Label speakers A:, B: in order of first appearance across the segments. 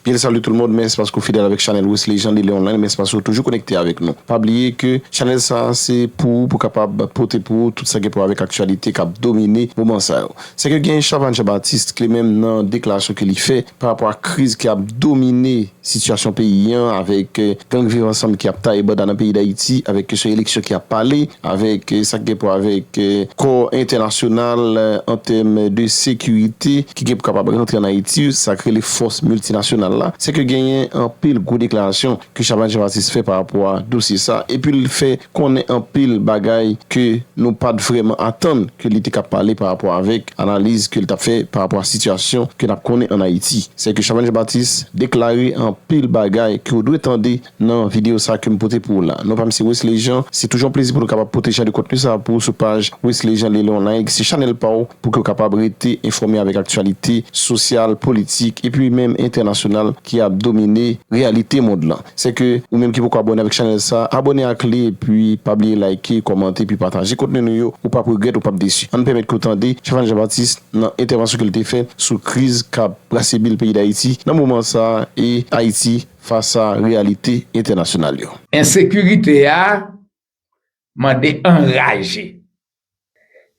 A: Bnswa salut tout le monde mèsi paske ou fidèle avèk chanèl Wesley Jean Dele online mèsi paske ou toujou konekte avèk nou pa bliye ke chanèl sa se pou ou pou kapab pote pou ou tout sa gen pou wè avèk aktyalite kap domine moman sa yo se ke gen Chavanne Jean Baptiste kle menm nan deklarasyon ke li fè pa rapò ak kriz ki ap domine sitiyasyon peyi an avèk gang viv ansanm ki ap taye banda nan peyi dayiti avèk kesyon eleksyon ki ap pale. avèk sa ki gen pou wè avèk kò entènasyonal an tèm de sekirite ki gen pou kapab rantre an Ayiti, sa k rele fòs miltinasyonal la, se ke genyen anpil gwo deklarasyon ke Chabani Janbatis fè pa rapò a dosye sa a epi l fè konnen anpil bagay ke nou pa t vrèman atann ke li te ka pale pa rapò avèk analiz ke l t ap fè pa rapò a sitiyasyon ke n ap konnen an Ayiti. Se ke Chabani Janbatis deklare anpil bagay ke ou dwe tande Nan videyo sa ke m pote pou ou la. Non pa m se Wesley Jean, se toujou yon plezi pou nou kapab pote jan de kontni sa pou ou sou paj Wesley Jean Lele Online, se chanèl pa w pou ke w kapab rete enfòme avèk aktyalite sosyal, politik epi menm entènasyonal ki ap domine reyalite mond lan. Se ke ou menm ki poko abòne avèk chanèl sa, abòne ak li epi pa bliye layke, kòmante epi pataje kontni nou yo, ou p ap regrèt, ou p ap desi. Ann pèmèt ke w tande Stéphane Jean Baptiste nan entèvansyon ke l te fè sou kriz k ap brase bil peyi Dayiti nan moman sa e Ayiti fas a reyalite entènasyonal yo. Ensekirite
B: a mande anraje.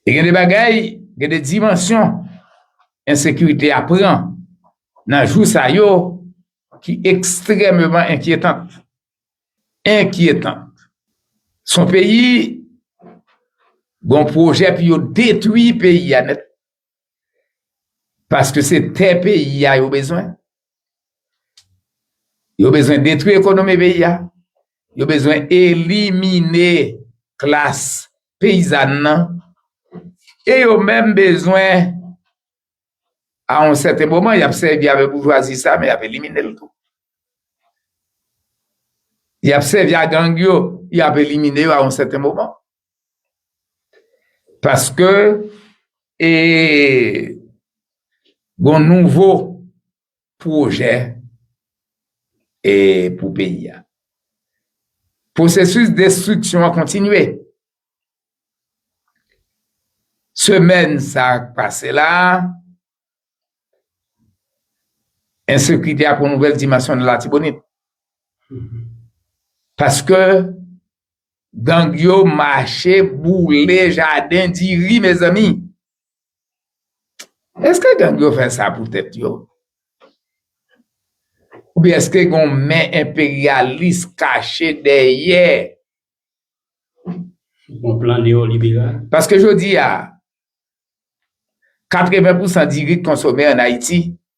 B: E gen de bagay, gen de dimansyon ensekirite a pran nan jou sa yo ki ekstrèmeman enkyetant. Enkyetant. Son peyi, gon pwojè pou yo detwi peyi a nèt. Paske se tè peyi a yo bezwen. Yo bezwen detwi ekonomi peyi a. Yo bezwen elimine klas peyizan nan. E yo menm bezwen a yon sèten moman y ap sèvi avèk boujwazi sa men y ap elimine l tou. Y ap sèvi a gang yo, y ap elimine yo a yon sèten moman. Paske e gon nouvo pwojè e pou peyi a. Pwosesis destriksyon an kontinye. Semèn sa a k pase la a, ensekite a pran yon nouvèl dimansyon nan Latibonit. Paske Gang yo mache boule jaden diri mezanmi. Eske gang yo fè sa pou tèt yo? Oubyen eske gon men enperyalis kache dèyè?
C: Gon plan neyoliberal? Paske jodi a,
B: 80 pousan diri k konsome an Ayiti,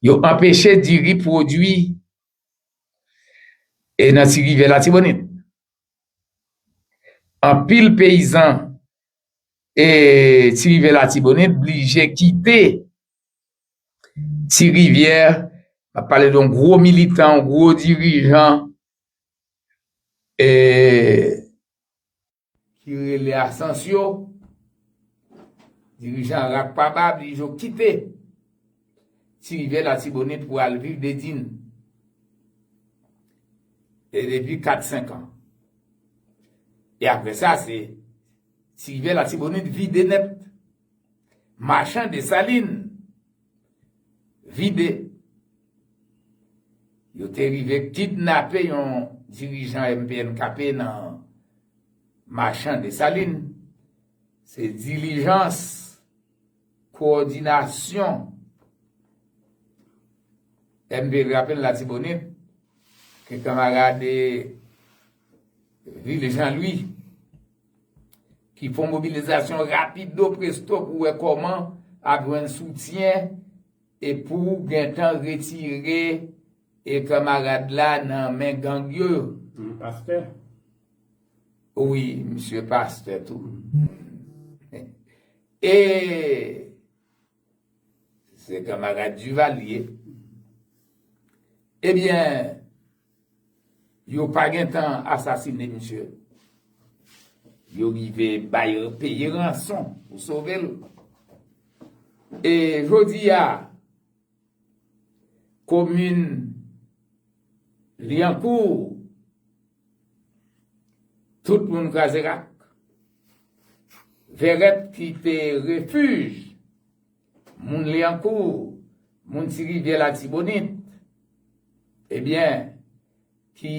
B: Yo anpeche diri pwodui e nan Ti Rivyè Latibonit. Anpil peyizan e Ti Rivyè Latibonit blije kite Ti Rivyè, map pale don gwo militan, gwo dirijan e. Ki rele Asancio. Dirijan rak pa bab li jo kite ti rivyè latibonit pou al viv Dedin. E depi 4 5 an. E apre sa se ti rivyè latibonit vide nèt. Machan Desalin. vide. Yo te rive kidnape yon dirijan MPNKP nan Machan Desalin. Se dilijans kowòdinasyon MPNKP te fè nan Latibonit ke kanmarad Vil Janlwi. Ki fon mobilizasyon rapido presto pou wè kòman ap jwenn soutyen e pou gentan retire e kamarad la nan men gang yo. Li pastè? Wi, misye pastè tou. E. Se kamarad Duvalier. Ebyen, yo pa gen tan asasine misye. Yo rive bay peye ranson pou sove l. E jodi a, komin Liancourt Tout moun kraze rak. Vèrèt ki te refij moun Lyankou, moun Ti Rivyè Latibonit, ebyen ki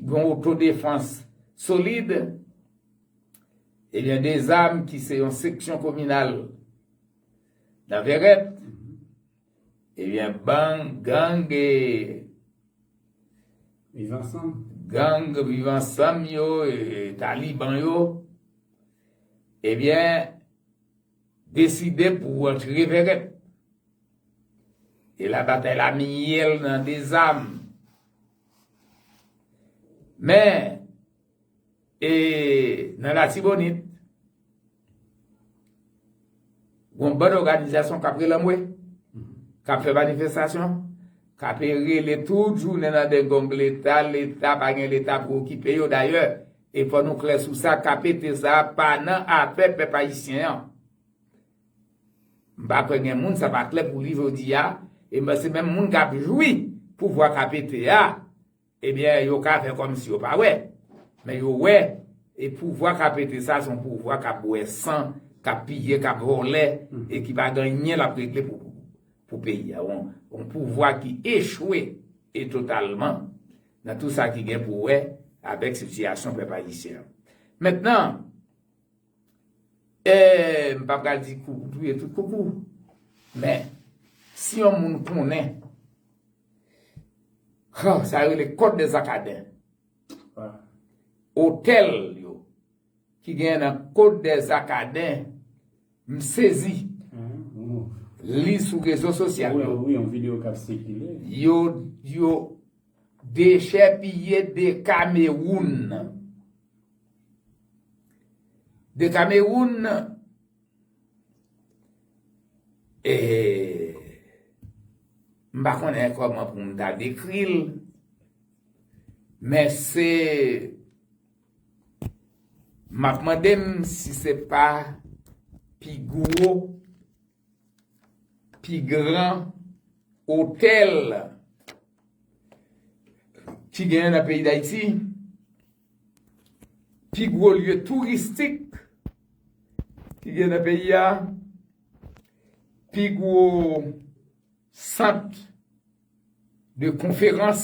B: gen yon otodefans solid, ebyen Dezam ki se yon seksyon kominal nan Vèrèt, Ebyen bang gang e
C: Viv ansanm. Gang viv
B: ansanm yo e taliban yo ebyen deside pou antre vèrèt. E la batay la miyèl nan dezam. Men. E nan latibonit, gon bann òganizasyon kap rele anmwe, kap fè manifestasyon, kap rele tout jounen nan dengong leta, leta pa gen leta pou okipe yo. Dayè, e fò nou klè sou sa, KPT sa a pa nan afè pèp ayisyen an. M pa kwè gen moun sa pa klè pou li jodi a, e m panse menm moun kap jwi pouvwa KPT a, Ebyen yo ka fè kòmsi yo pa wè, men yo wè e pouvwa ka pete sa son pouvwa kap bwè san, kap piye, kap vòlè e ki pa gen anyen lap regle pou peyi a. Yon pouvwa ki echwe e totalman nan tou sa ki gen pou wè avèk sitiyasyon pèp ayisyen an. Mentnan. Eeh m pa pral di koukou touye tout koukou men si yon moun konnen Huh sa yo rele kòd de zakaden Otèl yo ki genyen nan kòd de zakaden m sezi li sou rezo sosyal
C: yo yo
B: dechèpiye de kamewoun. De Cameroun eeh m pa konnen kòman pou m ta dekri l men se m ap mande m si se pa pi gwo Pi gran otèl ki genyen nan peyi Dayiti, pi gwo lye touristik ki genyen nan peyi a, pi gwo sant de konferans.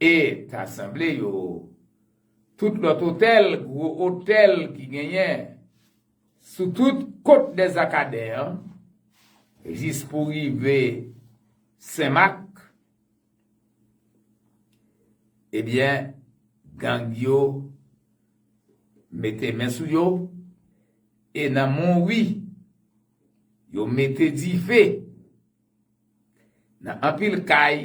B: E ta sanble yo tout lòt otèl, gwo otèl ki genyen sou tout kot Dèzakaden an, jis pou rive Senmak, ebyen gang yo mete men sou yo, e nan Monwi, yo mete dife Nan anpil kay,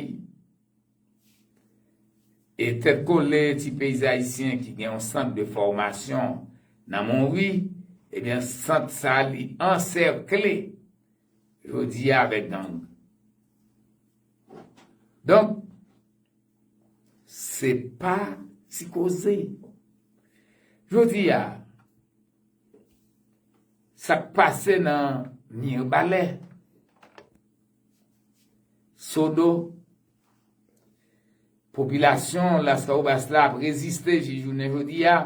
B: e tèt kole ti peyizan ayisyen ki gen yon sant de fòmasyon nan Monwi, ebyen sant sa li ansèkle jodi a avèk gang. Donk, se pa ti koze. Jodi a. Sa k pase nan Mirbalè, Sodo, popilasyon Lascahobas la ap reziste jis jounen jodi a,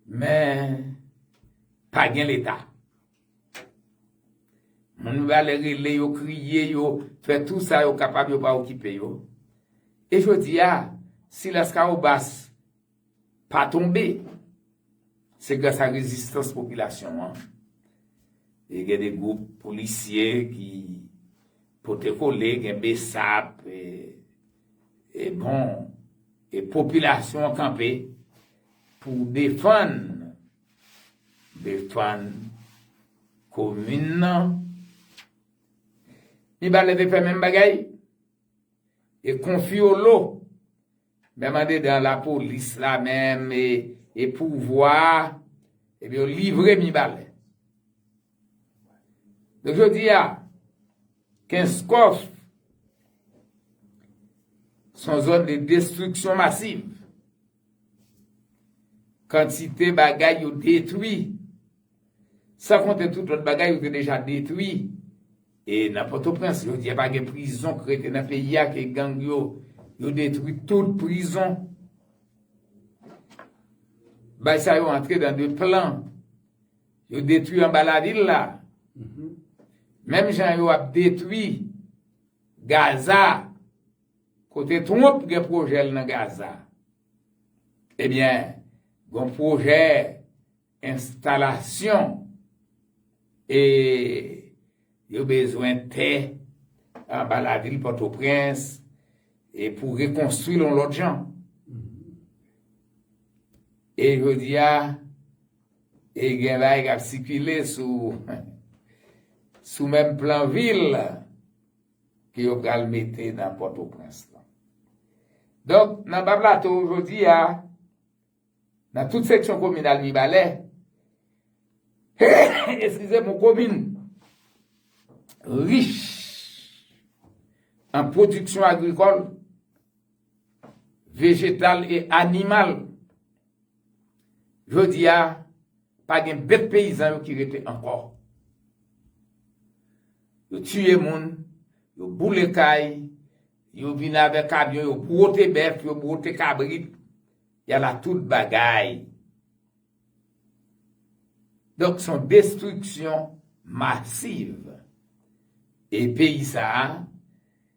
B: men pa gen Leta. Moun Mirbalè rele yo, kriye yo, fè tou sa yo kapab yo pa okipe yo. E jodi a, si Lascahobas Pa tonbe. Se gras a rezistans popilasyon an. E gen de gwoup polisye ki pote kole, gen besap. E bon, e popilasyon an kanpe pou defann, defann komin nan. Li pa leve fè menm bagay? E konfyolo menm andedan lapolis la menm e pouvwa a ebyen yo livre mibalè. Donk jodi a kenskof son zòn de destriksyon masiv. Kantite bagay yo detwi, san konte tout lòt bagay yo te deja detwi. E nan Pòtoprens, jodi a pa gen prizon k rete nan peyi a ke gang yo, yo detwi tout prizon. Bay sa yo antre dan de plan. Yo detwi anba lavil la. Menm jan yo ap detwi Gaza. Kote Trump gen pwojè l nan Gaza? Ebyen, gon pwojè enstalasyon e yo bezwen tè anba lavil Pòtoprens e pou rekonstwi l yon lòt jan. E jodi a, e gen bagay k ap sikile sou menm plan vil. ke yo pral mete nan Pòtoprens lan. Donk, nan Ba Plato jodi a, nan tout seksyon kominal Mibalè, eskize m, yon komin rich an pwodiksyon agrikòl, vejetal e animal. Jodi a, pa gen bèt peyizan yo ki rete ankò. Yo tiye moun, yo boule kay, yo vin avè kamyon, yo bwote bèf, yo bwote kabrit, y ala tout bagay. Donk s on destriksyon masiv. E peyi sa a.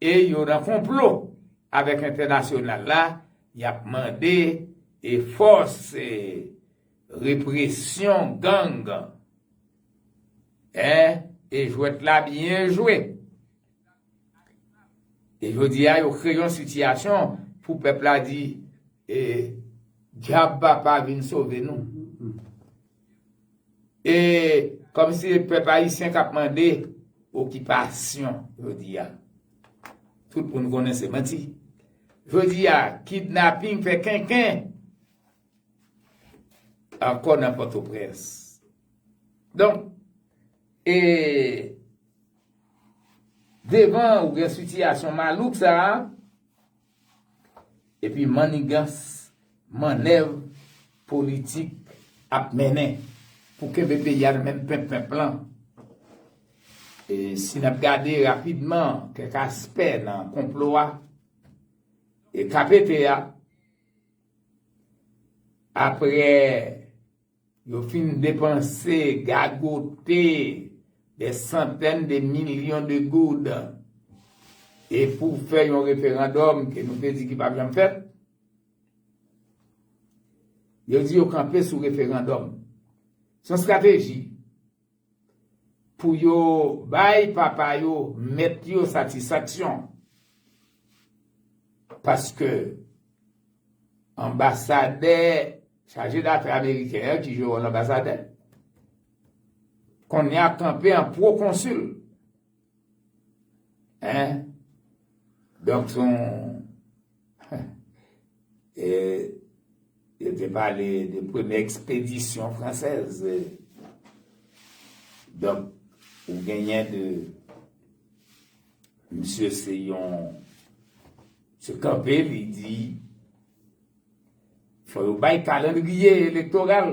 B: E yo nan konplo avèk entènasyonal la, y ap mande e fòs e represyon gang en e jwèt la byen jwe. E jodi a yo kreye yon sitiyasyon pou pèp la di e djab papa vin sove nou. E kòm si e pèp ayisyen k ap mande okipasyon jodi a. Tout moun konnen se manti. Jodi a, kidnaping fè kenken ankò nan Pòtoprens. Donk, e devan ou gen sitiyasyon malouk sa a, Epi mannigans, mannèv politik ap mennen pou kenbe peyi a nan men penp penp lan. E si n ap gade rapidman kèk aspè nan konplo a, e ka pete a, apre. Yo fin depanse, gagote, dè santèn de milyon de goud. E pou fè yon referandòm ke nou te di ki pap janm fèt, yo di yo kanpe sou referandòm. Se yon strateji. Pou yo bay papa yo, mèt yo satisfaksyon. Paske anbasadè, chaje dafè ameriken an ki jwe wòl anbasadè, kounye a kanpe an pwokonsil. Hein? Donk son e yo te pale de premye ekspedisyon fransèz. Donk ou genyen de misye se yon se kanpe li di fò yo bay kalandriye elektoral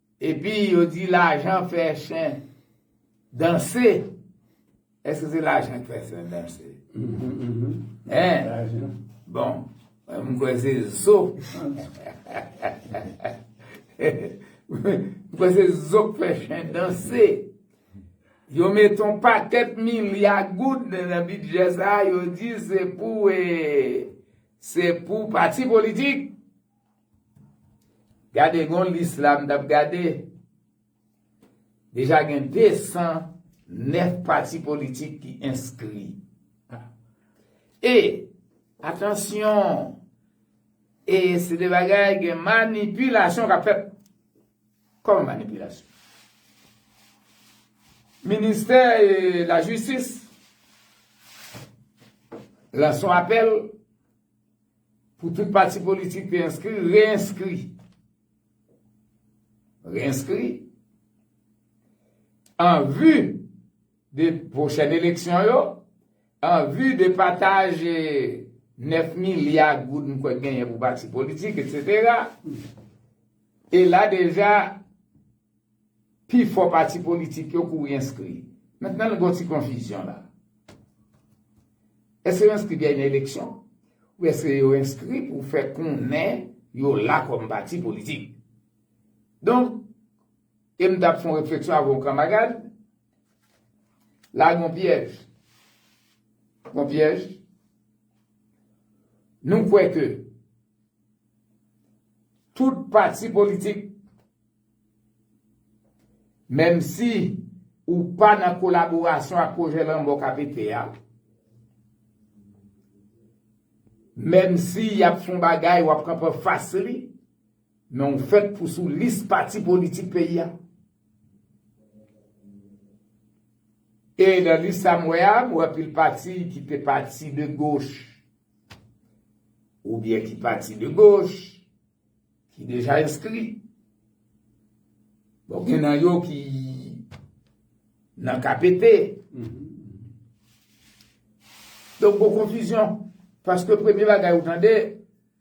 B: Epi yo di lajan fè chen danse. Eske se lajan ki fè chen danse? Hein?
C: Bon,
B: m kwè se zo. M kwè se zo k fè chen danse. Yo met yon pakèt milya goud nan bidjè sa a, yo di se pou e, se pou pati politik. Gade gon lis la m tap gade. Deja gen 209 pati politik ki enskri. E, atansyon, e se de bagay gen manipilasyon kap fèt. Kòman manipilasyon? Ministè la jistis lanse yon apèl Pou tout pati politik te enskri, re-enskri. Re-enskri. An vu de pwochèn eleksyon yo, an vu de pataj 9 milya goud m kwè genyen pou pati politik, etc. E la deja. Pi fò pati politik yo kouri enskri. Mentnan gen yon ti konfizyon la. Èske yo enskri dènye eleksyon? Ou èske yo enskri pou fè konnen yo la kòm pati politik? Donk, e m t ap fè yon refleksyon avè yon kanmarad, la gen yon pyèj. Yon pyèj. Nou kwè ke tout pati politik. Menmsi ou pa nan kolaborasyon ak pwojè lanmò k ap ete a, menmsi y ap fè yon bagay w ap kanpe anfas li, men ou fèt pou sou lis pati politik peyi a. E nan lis sa m wè a, m wè anpil pati ki te pati de goch oubyen ki pati de goch. ki deja enskri. Bon gen nan yo ki nan KPT. Donk bon konfizyon. Paske premye bagay ou tande,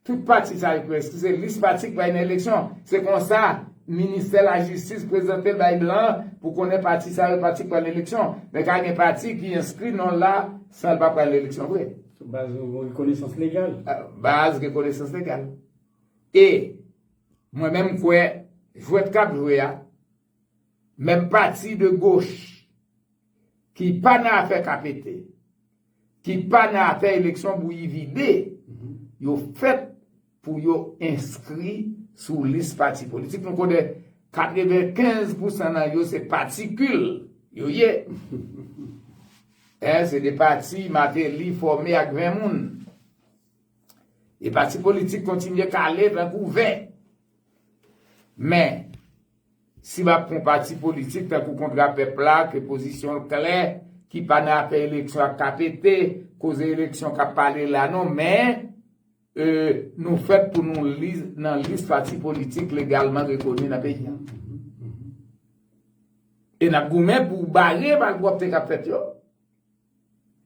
B: tout pati sa yo ki enskri se lis pati ki bay nan eleksyon. Se konsa, ministè la jistis prezante l bay blan pou konnen pati sa yo pati ki pral eleksyon. Men ka gen pati ki enskri non l la san l pa pral eleksyon vre. Sou baz yon
C: rekonesans legal. Baz rekonesans
B: legal. E Mwen menm m kwè jwèt k ap jwe a, menm pati de goch ki pa nan afè ka pete, ki pa nan afè eleksyon bouyi vide, yo fèt pou yo enskri sou lis pati politik. Nou konnen 95 pousan nan yo se patikil yo ye. Se de pati Mateli fòme ak 20 moun. E pati politik kontinye kale tankou vè. Men, si m ap pran pati politik tankou Kontra Pèp la ke pozisyon l klè, ki pa nan afè eleksyon ak KPT, koze eleksyon k ap pale la non men, nou fèt pou nou nan lis pati politik legalman rekoni nan peyi an. E n ap goumen pou bare malpwòpte k ap fèt yo.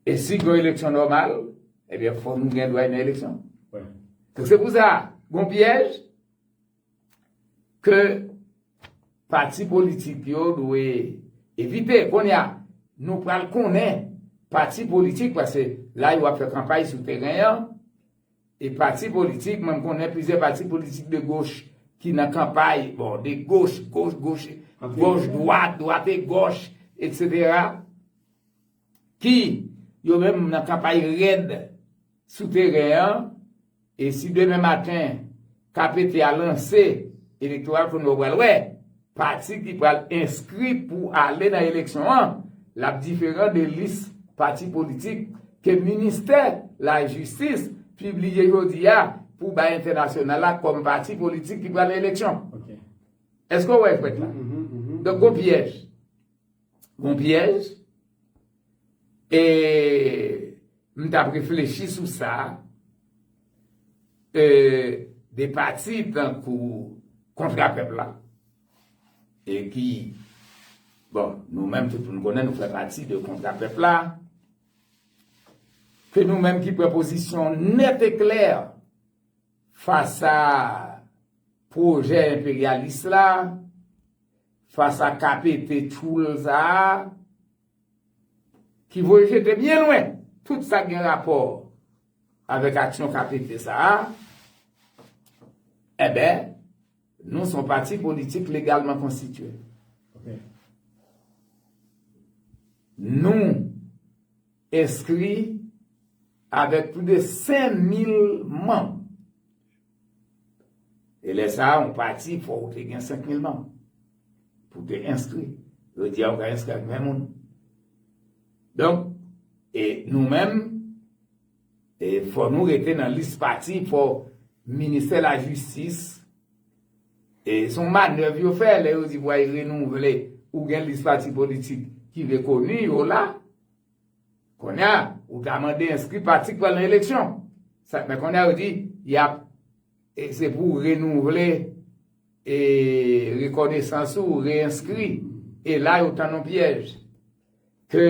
B: E si gen eleksyon nòmal, ebyen fò nou gen dwa nan eleksyon. Donk
C: se pou sa,
B: gon pyèj ke pati politik yo dwe evite. Kounye a, nou pral konnen pati politik, pase la yo ap fè kanpay sou teren an, e pati politik, mwen konnen plizyè pati politik de goch ki nan kanpay, bon, de goch, goch, goch, goch, dwat, dwat e goch, etc. Ki yo menm nan kanpay rèd sou teren an e si demen maten KPT a lanse elektoral konn wè pral wè pati ki pral enskri pou ale nan eleksyon an l ap diferan de lis pati politik ke ministè lajistis pibliye jodi a pou bay entènasyonal la kòm pati politik ki pral nan eleksyon.
C: Èske w wè
B: jwèt la? Donk gon pyèj. Bon pyèj. E m t ap reflechi sou sa. E de pati tankou kontra pèp la. E ki bon nou menm tout moun konnen nou fè pati de kontra pèp la. Ke nou menm ki pran pozisyon nèt e klè fasa pwojè enperyalis la. Fas a KPP tchoul sa a ki voye jete byen lwen tout sa k gen rapò avèk aksyon KPP sa a, enben, nou s on pati politik legalman konstitye. Nou enskri avèk plis de 5 mil manm. E lè sa a, yon pati fò ou te gen 5000 manm pou te enskri. Jodi a ou ka enskri ak 20 moun. Donk, e nou menm, e fò nou rete nan lis pati fò Ministè la Jistis, e son manèv yo fè lè yo di pou ay renouvle ou gen lis pati politik ki rekoni yo la. Konnya ou ta mande enskri pati k pral nan eleksyon. Sa men konnya yo di yap e se pou renouvle e rekonesans ou reenskri e la yo tann yon pyèj ke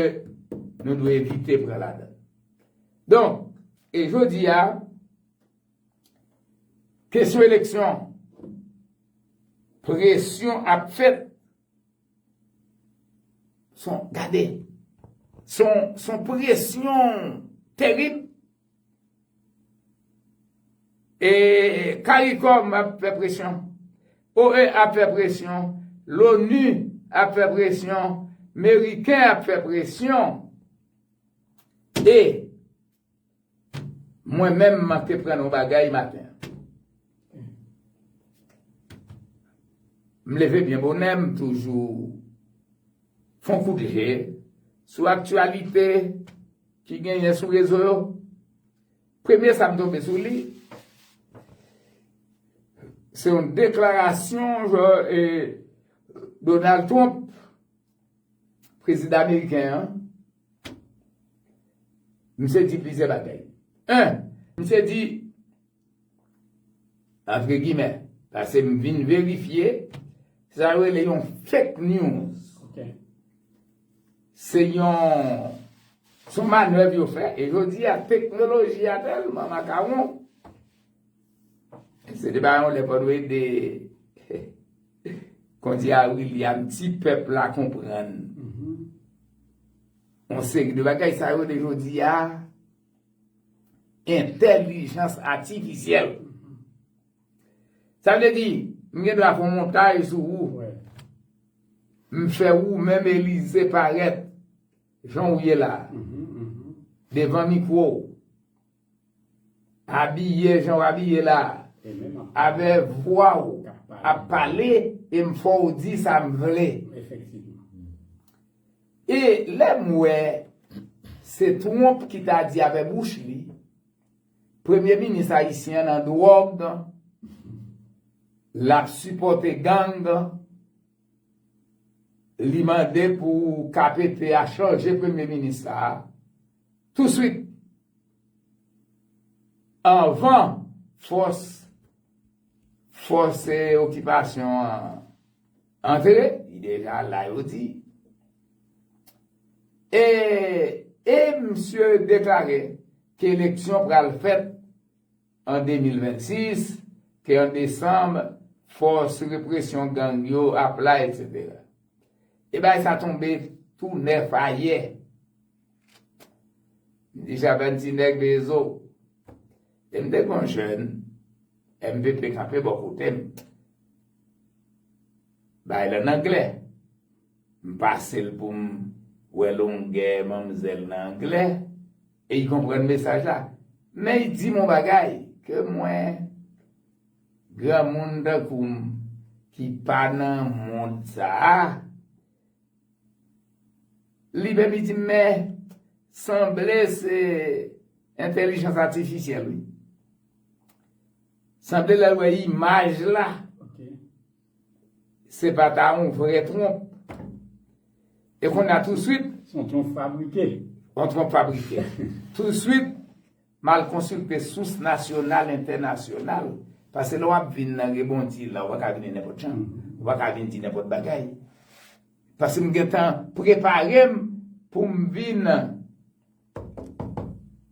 B: nou dwe evite pran ladann. Donk e jodi a kesyon eleksyon presyon ap fèt Son, gade, son, son presyon terib. E, Karikom ap fè presyon. OEA ap fè presyon. L'ONU ap fè presyon. Meriken ap fè presyon. E, Mwen menm m te pran yon bagay maten an. M leve byen bonè m toujou fon kout je sou aktyalite ki genyen sou rezo yo. Premye sa m tonbe sou li, se yon deklarasyon Donald Trump, prezidan ameriken an, Misye di plizyè bagay. 1, Misye di, antre gimè, pase m vin verifye, sa yo rele yon fake news. Se yon, son manèv yo fè, e jodi a teknoloji a tèlman makawon. Se te ba yon lè fòdwe de kondi a William ti pèp la konprann. On se gde bagay sa yo de jodi a entèlijans atifisyèl. Sa vle di, m gen dwa fon montaj sou ou, m fè ou menm elize parèt jan ou ye la, devan mikwo ou. Abiye jan w abiye la avè vwa w ap pale e m fè w di sa m vle. E lè m wè se Trump ki ta di avè bouch li premye minis ayisyen an nan dwòg, l ap sipòte gang, li mande pou KPP a chanje premye minis sa a. Touswit anvan fòs fòse okipasyon an antre, li deja la yo di. E, e msye deklare ke eleksyon pral fèt an 2026, ke an desanm fòs represyon gang yo ap la, etc. E bagay sa tonbe tou nèf ayè M te javel ti nèg lezo. Lè m te gon jèn, MVP kanpe bò kote m. Bay la n anglè. M pase l pou m wè longè manmzèl nan anglè e y konprann mesaj la. Men y di m on bagay ke mwen, granmoun tankou m ki pa nan mond sa a, Li baby di mè sanble se entèlijans atifisyèl wi. Sanble lè l wè imaj la se pa ta yon vrè twonp. E konn a touswit. Son twonp fabrike.
C: Yon twonp fabrike.
B: Touswit. M al konsilte sous nasyonal, entènasyonal. Pase lè w ap vin nan rebondi la, ou pa ka vini nenpòt jan. Ou pa ka vin di nenpòt bagay. Pase m gentan prepare m pou m vin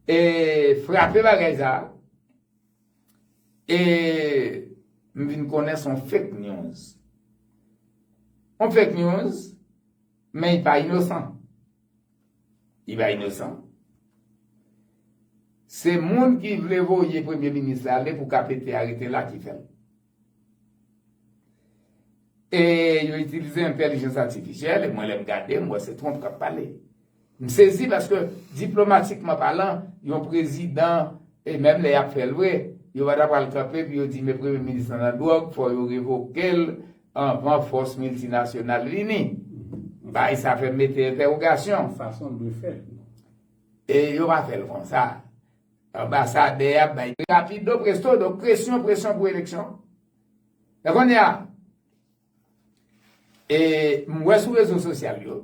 B: e frape bagay sa a. E m vin konnen se yon fake news. Yon fake news, men li pa inosan. Li bay nou san. Se moun ki vle voye premye minis la ale pou KPT a rete la ki fè l. E yo itilize entèlijans atifisyèl e mwen lè m gade m wè se Trump k ap pale. M sezi paske diplomatikman palan yon prezidan e menm lè y ap fè l vre yo pa ta pral kanpe pou yo di men premye minis lan nan dwòg fò yo revoke l Anvan fòs miltinasyonal vini. Bagay sa fè m mete entèwogasyon. Yon fason l dwe fèt.
C: E
B: yo pa fè l konsa. Anbasadè a bay. Rapido presto, donk presyon, presyon pou eleksyon. E kounye a, e m wè sou rezo sosyal yo,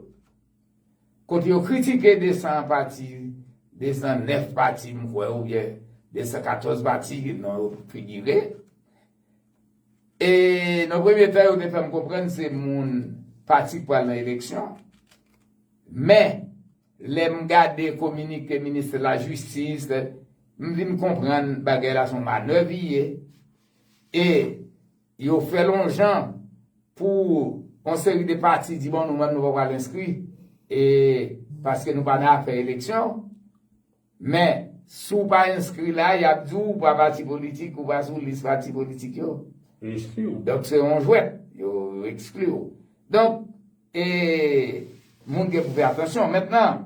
B: kote yo kritike 200 pati, 209 pati m kwè oubyen 214 pati non yo figire. E nan premye tan yo te fè m konprann se moun pati k pral nan eleksyon. Men, lè m gade kominike ministè lajistis, m vin konprann bagay la se yon manèv li ye. E yo fè l yon jan pou yon seri de pati di bon nou menm nou pa pral enskri e paske nou pa nan afè eleksyon. Men, si w pa enskri la, y ap di w ou pa pati politik, ou pa sou lis pati politik yo. Ekskli w. Donk se yon jwèt. Yo ekskli w. Donk, e, moun gen pou fè atansyon. Mentnan,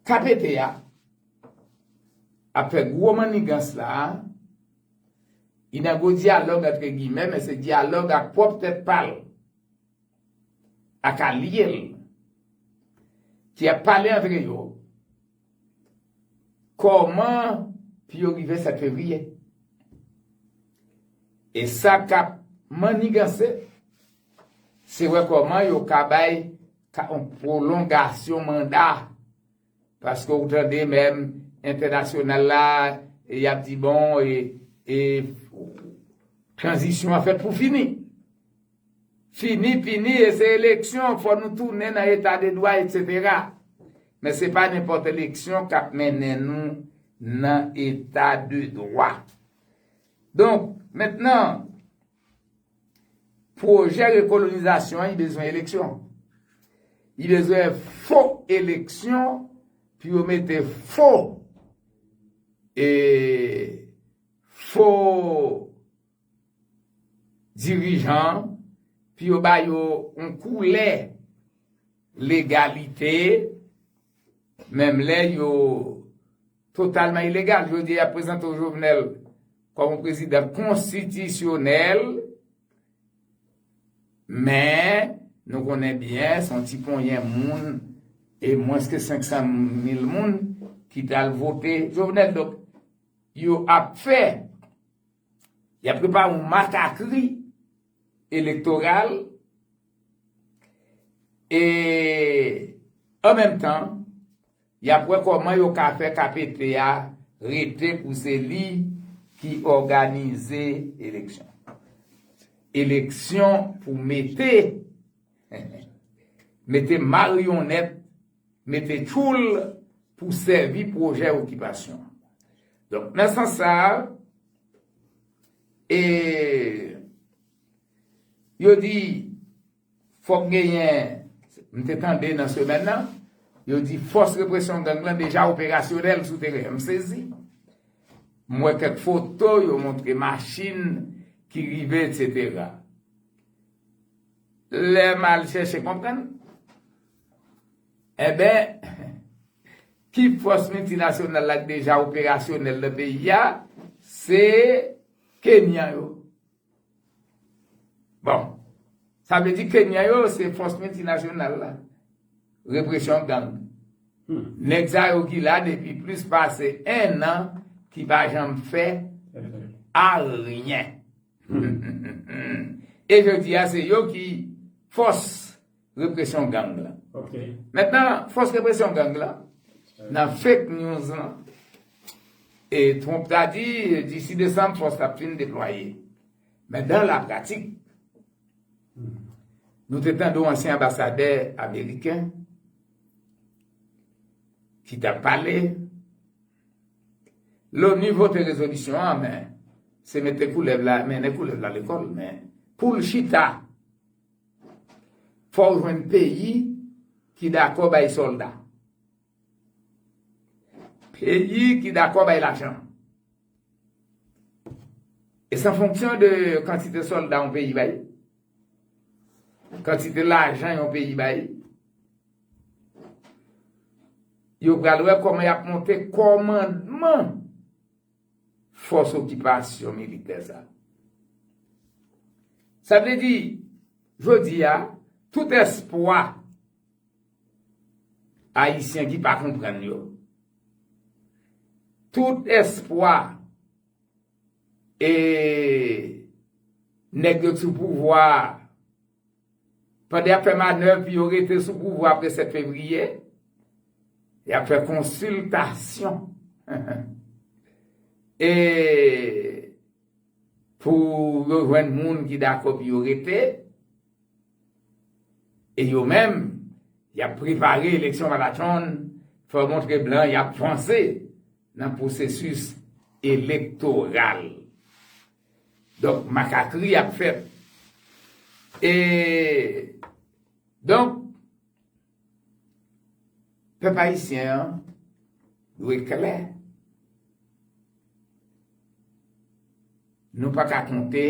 B: KPT a ap fè gwo mannigans la a. Li nan gwo dyalòg antre gimè, men se dyalòg ak pwòp tèt pa l. ak alye l ki ap pale antre yo kòman pou yo rive fè peyi briye. E sa k ap manniganse se wè kòman yo ka bay yon pwolongasyon manda. Paske ou tande menm entènasyonal la y ap di bon e tranzisyon an fèt pou fini. Fini fini e se eleksyon fò nou tounen nan eta de dwa etsetera. Men se pa nenpòt eleksyon k ap mennen nou nan eta de dwa. Donk, mentnan Pwojè rekolonizasyon an, y bezwen eleksyon. Y bezwen fo eleksyon pou yo mete fo e fo dirijan pou yo ba yo yon koulè legalite menm lè yo Totalman ilegal, jodi a y ap prezante w Jovenel kòm yon prezidan konstitisyonèl, men nou konnen byen se yon ti ponyen moun e mwens ke 500 mil moun ki t al vote Jovenel. Donk, yo ap fè, y ap prepare yon matakri elektoral e an menm tan, Y ap wè kòman yo ka fè KPP a rete pou se li ki òganize eleksyon. Eleksyon pou mete mete maryonnèt, mete tchoul pou sèvi pwojè okipasyon. Donk nan sans sa a, e yo di Fòk genyen, m te tande nan semèn nan, yo di fòs represyon gang lan deja operasyonèl sou teren. M sezi. M wè kèk foto, yo montre machin ki rive etsetera. Lè m al chèche konprann, enben, ki fòs miltinasyonal la ki deja operasyonèl nan peyi a, se Kenyan yo. Bon, sa vle di Kenyan yo se fòs miltinasyonal la, represyon gang. Nèg sa yo ki la depi plis pase 1 an ki pa janm fè aryen. E jodi a se yo ki fòs. represyon gang la. Mètnan,
C: fòs
B: represyon gang la, nan fake news lan, e Trump ta di, disi Desanm, fòs la ap fin deplwaye. Men dan la pratik, nou te tande yon ansyen anbasadè ameriken, ki ta pale, lò nivou te rezolisyon an, men, se mète koulèv la, mène koulèv la lekòl, men, poul chita. Fòw jwenn peyi ki dakò bay sòlda. Peyi ki dakò bay lajan. E san fonksyon de kantite sòlda yon peyi bay. Kantite lajan yon peyi bay. Yo pral wè kòman yap monte kòmandman. fòs okipasyon militè sa. Sa vle di, jodi a, tout espwa Ayisyen ki pa konprann yo, tout espwa e nèg yo sou pouvwa a, Pandan y ap fè manèv pou yo rete sou pouvwa apre 7 fevriye, y ap fè konsiltasyon pou yo jwenn moun ki dakò pou yo rete, e yo menm, y ap prepare eleksyon malatchonn, fè w montre blan y ap vanse nan pwosesis elektoral. Donk makakri ap fèt. E donk pèp ayisyen an dwe klè. Nou pa ka konte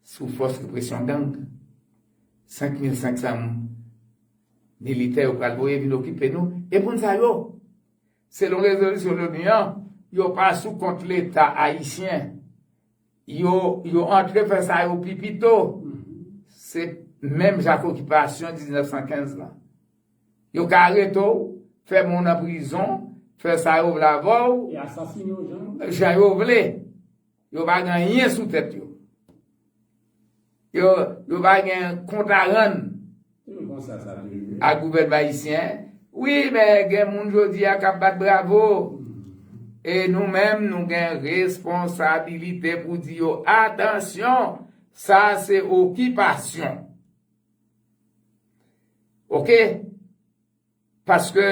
B: sou fòs represyon gang. 5500 militè yo pral voye vin okipe nou. E moun sa yo? Selon rezolisyon l'ONU an, yo pa sou kont leta ayisyen. Yo yo antre fè sa yo pi pito. Se menm jan ak okipasyon 1915 lan. Yo ka arete w, fè men w nan prizon, fè sa yo vle avè w,
C: jan yo vle.
B: Yo pa gen anyen sou tèt yo. Yo pa gen kont a rann. Se konsa sa te ye. Ak gouvènman ayisyen. Wi men gen moun jodi a k ap bat bravo. E nou menm nou gen responsabilite pou di yo atansyon sa se okipasyon. Ok. Paske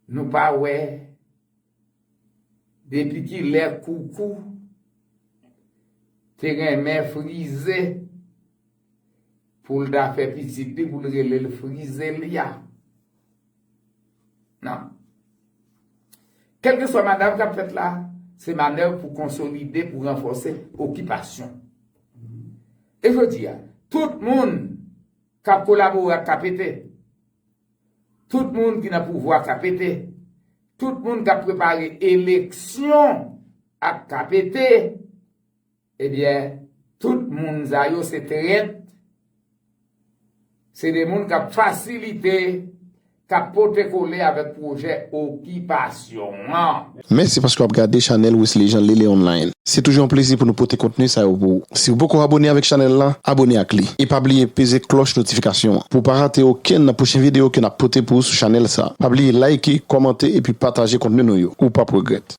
B: nou pa wè depi ki lè koukou te renmen frize pou l ta fè pitit li pou l rele l frizelya. Nan. Kèlkeswa manav k ap fèt la, se manèv pou konsolide, pou ranfòse okipasyon. E jodi a, tout moun k ap kolabore ak KPT, tout moun ki nan pouvwa KPT, tout moun k ap prepare eleksyon ak KPT, Ebyen tout moun sa yo se trèt, se de moun kap fasilite, kap pote kole avèk pwojè okipasyon an. Mèsi
A: paske w ap gade chanèl Wesley Jean Lele Online. Se toujou yon plezi pou nou pote kontni sa yo pou ou. Si ou poko abone avèk chanèl la, abone ak li. E pa bliye peze klòch notifikasyon an pou w pa rate okenn nan pwochen videyo ke n ap pote pou ou sou chanèl sa. Pa bliye layike, kòmante epi pataje kontni nou yo. Ou p ap regrèt.